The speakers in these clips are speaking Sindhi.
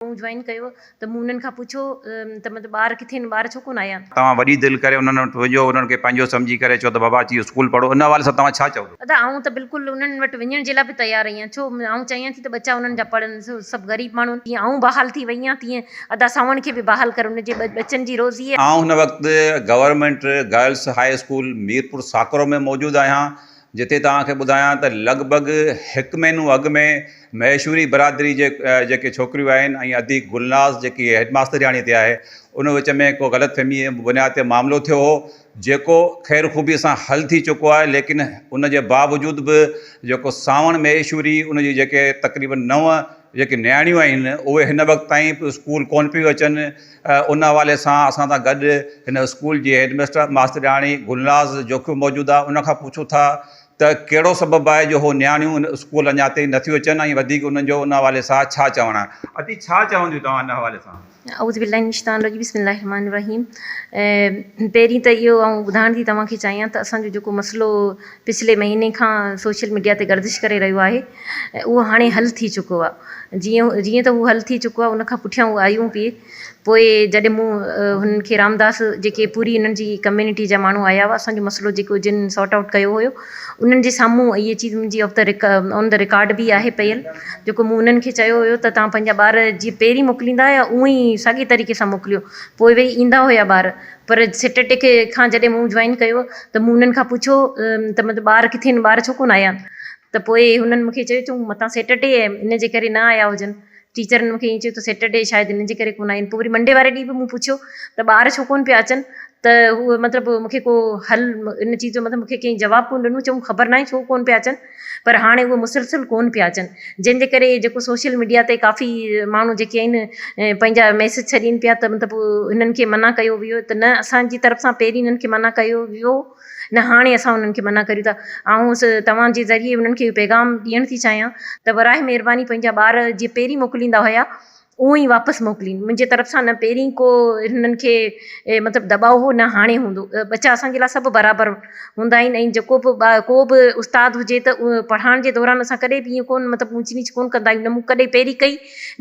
مون جوائن ڪيو ته مون انهن کان پڇيو ته مطلب ٻار ڪٿي آهن ٻار ڇو ڪونه آيا. توهان وڏي دل ڪري انهن وٽ وڃو انهن کي پنهنجو سمجهي ڪري چئو ته بابا اچي اسڪول پڙهو ان حوالي سان توهان ڇا چئو ٿو. ادا آئون ته بلڪل انهن وٽ وڃڻ جي لاء به تيار آهيان ڇو آئون چاهيان ٿي ته ٻچا انهن جا پڙهن سڀ غريب ماڻهو آهن جيئن آئون بحال ٿي وئي آهيان تيئن ادا سانوڻ کي به بحال ڪر ان جي ٻچن جي روزي. آئون هن وقت government girls high school Mirpur Sakro ۾ موجود آهيان جتي توهان کي ٻڌايان ته لڳ ڀڳ هڪ مهينو اڳ ۾ مهيشوري برادري جي جيڪي ڇوڪريون آهن ۽ ادي گلناز جيڪي هيڊ ماسترياڻي تي آهي ان وچ ۾ ڪو غلط فهمي جي بنياد تي معاملو ٿيو هو جيڪو خير خوبي سان حل ٿي چڪو آهي ليڪن ان جي باوجود به جيڪو سانوڻ مهيشوري ان جي جيڪي تقريبن نو جيڪي نياڻيون آهن اهي هن وقت تائين اسڪول ڪون پيون اچن ان حوالي سان اسان سان گڏ هن اسڪول جي هيڊ ميسٽر ماسترياڻي گلناز جوکيو موجود آهي ان کان پڇون ٿا ته ڪهڙو سبب آهي جو هو نياڻيون ان اسڪول اڃا تائين نه ٿيون اچن ۽ وڌيڪ انهن جو ان حوالي سان ڇا چوڻ آهي ادي ڇا چونديون توهان ان حوالي سان. اعوذ بالله من الشيطان الرجيم بسم الله الرحمٰن الرحيم پهرين ته اهو آئون ٻڌائڻ ٿي توهان کي چاهيان ته اسان جو جيڪو مسئلو پڇلي مهيني کان سوشل ميڊيا تي گردش ڪري رهيو آهي اهو هاڻي حل ٿي چڪو آ جيئن جيئن ته اهو حل ٿي چڪو آ ان کان پٺيان هو آيون پي پوء جڏهن مون هنن کي رامداس جيڪي پوري هنن جي ڪميونٽي جا ماڻهو آيا هئا اسان جو مسئلو جيڪو جن سارٽ آئوٽ ڪيو هيو انهن جي سامهون اهي چيز منهنجي off the on the record به آهي پيل جيڪو مون انهن کي چيو هيو ته تهان پنهنجا ٻار جي پهرين موڪليندا هيا اونئي ساڳي طريقي سان موڪليو پوء ويهي ايندا هيا ٻار پر سيٽٽيڪ کان جڏهن مون جوائن ڪيو ته مون هنن کان پڇيو ته مطلب ٻار ڪٿي آهن ٻار ڇو ڪونه آيا ته پوء هنن مونکي چيو تون متان سيٽرڊي آهي ان جي ڪري نه آيا هجن ٽيچرن مونکي ائين چيو ته سيٽرڊي شايد ان جي ڪري ڪونه آيا آهن پوء وري منڊي واري ڏينهن به مون پڇيو ته ٻار ڇو ڪونه پيا اچن ته هو مطلب مونکي ڪو حل ان چيز جو مطلب مونکي ڪنهن جواب ڪونه ڏنو چيائون خبر ناهي ڇو ڪونه پيا اچن پر هاڻي اهي مسلسل ڪون پيا اچن جنهن جي ڪري جيڪو سوشل ميڊيا تي ڪافي ماڻهو جيڪي آهن پنهنجا ميسج ڇڏين پيا ته مطلب هنن کي منع ڪيو ويو ته نه اسان جي طرف سان پهرين هنن کي منع ڪيو ويو نه هاڻي اسان هنن کي منع ڪريون ٿا آئون توهان جي ذريعي هنن کي پيغام ڏيڻ ٿي چاهيان ته براهه مهرباني پنهنجا ٻار جي پهرين موڪليندا هيا اونء ئي واپس موڪلين منهنجي طرف سان نه پهرين ڪو هنن کي مطلب دٻاء هو نه هاڻي هوندو ٻچا اسان جي لاء سڀ برابر هوندا آهن ۽ جيڪو به ٻار ڪو به استاد هجي ته اهو پڙهائڻ جي دوران اسان ڪڏهن به ائين ڪونه مطلب اونچ نيچ ڪونه ڪندا آهيون نه مون ڪڏهن پهرين ڪئي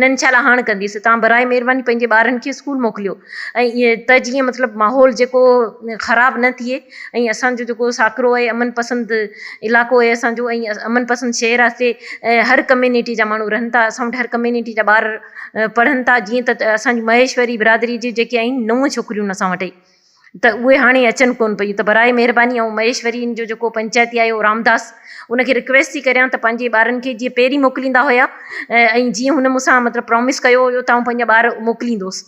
نه انشاء الله هاڻ ڪنديس تان براء مهرباني پنهنجي ٻارن کي اسڪول موڪليو ۽ ائين ته جيئن مطلب ماحول جيڪو خراب نه ٿئي ۽ اسان جو جيڪو ساڪرو آهي امن پسند علاقو آهي اسان جو ۽ امن پسند شهر آهي اتي هر ڪميونٽي جا ماڻهو رهن ٿا اسان وٽ هر ڪميونٽي جا ٻار پڙهن ٿا جيئن ته اسان جي مهيشوري برادري جي جيڪي آهن نو ڇوڪريون اسان وٽ ته اهي هاڻي اچن ڪون پيون ته براء مهرباني آئون مهيشوري جو جيڪو پنچائتي آهي اهو رامداس ان کي رڪويسٽ ٿي ڪريان ته پنهنجي ٻارن کي جيئن پهرين موڪليندا هيا ۽ جيئن هن مون سان مطلب پرامس ڪيو هيو ته آئون پنهنجا ٻار موڪليندوس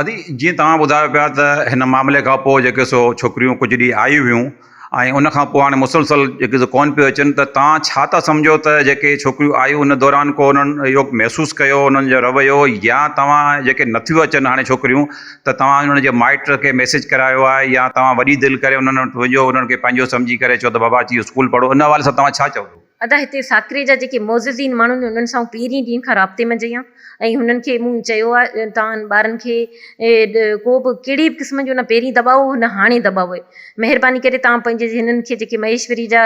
ادي جيئن توهان ٻڌايو پيا ته هن معاملي کان پوء جيڪي سو ڇوڪريون ڪجهه ڏينهن آيون هيون ۽ ان کان پوء هاڻي مسلسل جيڪي سو ڪون پيو اچن ته توهان ڇا ٿا سمجهو ته جيڪي ڇوڪريون آيون ان دوران ڪو انهن اهو محسوس ڪيو انهن جو رويو يا توهان جيڪي نه ٿيون اچن هاڻي ڇوڪريون ته توهان انهن جي مائٽ کي ميسيج ڪرايو آهي يا توهان وڏي دل ڪري انهن وٽ وڃو انهن کي پنهنجو سمجهي ڪري چئو ته بابا اچي اسڪول پڙهو ان حوالي سان توهان ڇا چوندو. ادا هتي ساڪري جا جيڪي معززين ماڻهو آهن انهن سان آئون پهرين ڏينهن کان رابطي ۾ جيئان ۽ هنن کي مون چيو آ توهان ٻارن کي ڪو به ڪهڙي به قسم جو نه پهرين دٻاء هو نه هاڻي دٻاء آهي مهرباني ڪري توهان پنهنجي هنن کي جيڪي مهيشوري جا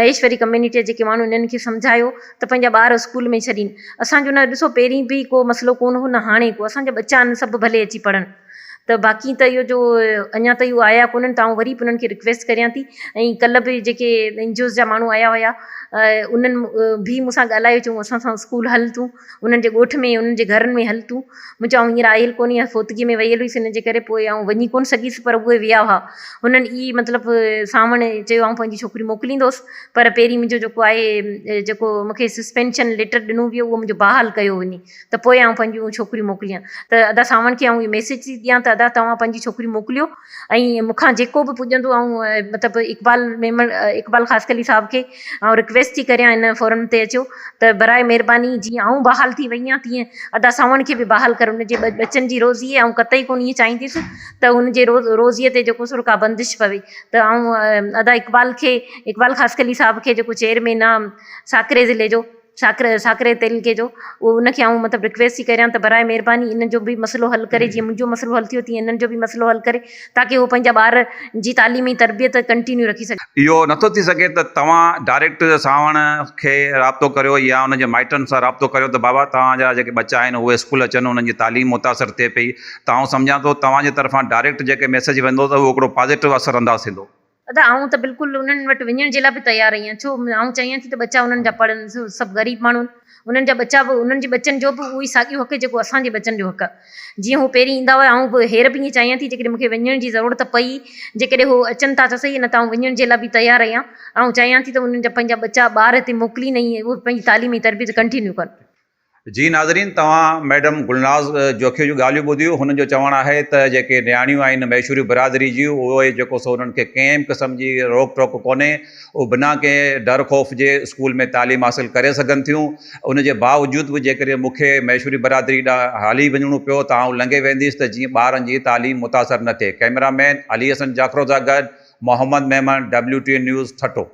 مهيشوري ڪميونٽي جا جيڪي ماڻهو انهن کي سمجهايو ته پنهنجا ٻار اسڪول ۾ ڇڏين اسان جو نه ڏسو پهرين به ڪو مسئلو ڪون هو نه هاڻي ڪو اسان جا ٻچا آهن سڀ ڀلي اچي پڙهن. ته باقي ته اهو جو اڃا تائين اهو آيا ڪونهن ته آئون وري به انهن کي رڪويسٽ ڪريان ٿي ۽ ڪلهه به جيڪي اين جي اوز جا ماڻهو آيا هيا انهن به مون سان ڳالهايو چيون اسان سان اسڪول هل تون انهن جي ڳوٺ ۾ انهن جي گهرن ۾ هل تون مون چيو آئون هينئر آيل ڪونهي ها فوتگي ۾ ويل هئس ان جي ڪري پوء آئون وڃي ڪونه سگهيس پر اهي ويا هئا انهن ئي مطلب ساوڻ چيو آئون پنهنجي ڇوڪري موڪليندوس پر پهرين منهنجو جيڪو آهي جيڪو مون کي سسپينشن ليٽر ڏنو ويو اهو منهنجو بحال ڪيو وڃي. ته پوء آئون پنهنجون ڇوڪريون موڪليان ته ادا ساوڻ کي آئون اهو ميسيج ٿي ڏيان ته ادا توهان پنهنجي ڇوڪريون موڪليو ۽ مون کان جيڪو به پڄندو آئون مطلب اقبال ميمڻ اقبال خاصخيلي صاحب کي آئون رڪويسٽ ٿي ڪريان ان فورم تي اچو ته براء مهرباني جيئن آئون بحال ٿي وئي آهيان تيئن ادا ساوڻ کي به بحال ڪر ان جي ٻچن جي روزي آئون قطعي ڪونه ائين چاهينديس ته ان جي روز روزي تي جيڪو سور ڪا بندش پوي ته آئون ادا اقبال کي اقبال خاصخيلي صاحب کي جيڪو چيئرمين آهي ساڪري ضلعي جو ساڪري ساڪري تعلقي جو اهو ان کي آئون مطلب رڪويسٽ ٿي ڪريان ته براء مهرباني ان جو به مسئلو حل ڪري جيئن منهنجو مسئلو حل ٿيو تيئن انهن جو به مسئلو حل ڪري تاڪي هو پنهنجا ٻار جي تعليم ۽ تربيت ڪنٽينيو رکي سگهن. اهو نه ٿو ٿي سگهي ته توهان ڊائريڪٽ سانوڻ کي رابطو ڪريو يا ان جي مائٽن سان رابطو ڪريو ته بابا توهان جا جيڪي ٻچا آهن اهي اسڪول اچن انهن جي تعليم متاثر ٿئي پئي ته آئون سمجهان ٿو توهان جي طرفان ڊائريڪٽ جيڪي ميسيج ويندو ته اهو هڪڙو پازيٽو اثر انداز ٿيندو. ادا آئون ته بلڪل انهن وٽ وڃڻ جي لاء به تيار آهيان ڇو آئون چاهيان ٿي ته ٻچا انهن جا پڙهن سڀ غريب ماڻهو آهن انهن جا ٻچا به انهن جي ٻچن جو به اهو ئي ساڳيو حق جيڪو اسان جي ٻچن جو حق آهي جيئن هو پهرين ايندا هئا آئون به هير به ائين چاهيان ٿي جيڪڏهن مون کي وڃڻ جي ضرورت پئي جيڪڏهن هو اچن ٿا ته سهي نه ته آئون وڃڻ جي لاء به تيار آهيان آئون چاهيان ٿي ته انهن جا پنهنجا ٻچا ٻار هتي موڪلين ۽ اهي پنهنجي تعليم ۽ تربيت ڪنٽينيو ڪن. جي ناظرين توهان ميڊم گلناز جوکيو جون ڳالهيون ٻڌيون هن جو چوڻ آهي ته جيڪي نياڻيون آهن ميشوري برادري جون اهي جيڪو سو انهن کي ڪنهن به قسم جي روڪ ٽوڪ ڪونهي اهي بنا ڪنهن ڊر خوف جي اسڪول ۾ تعليم حاصل ڪري سگهن ٿيون ان جي باوجود به جيڪڏهن مون کي ميشوري برادري ڏانهن هلي وڃڻو پيو ته آئون لنگهي وينديس ته جيئن ٻارن جي تعليم متاثر نه ٿئي ڪئميرا مين علي حسن جاکرو سان گڏ محمد ميمڻ WTN نيوز ٺٽو.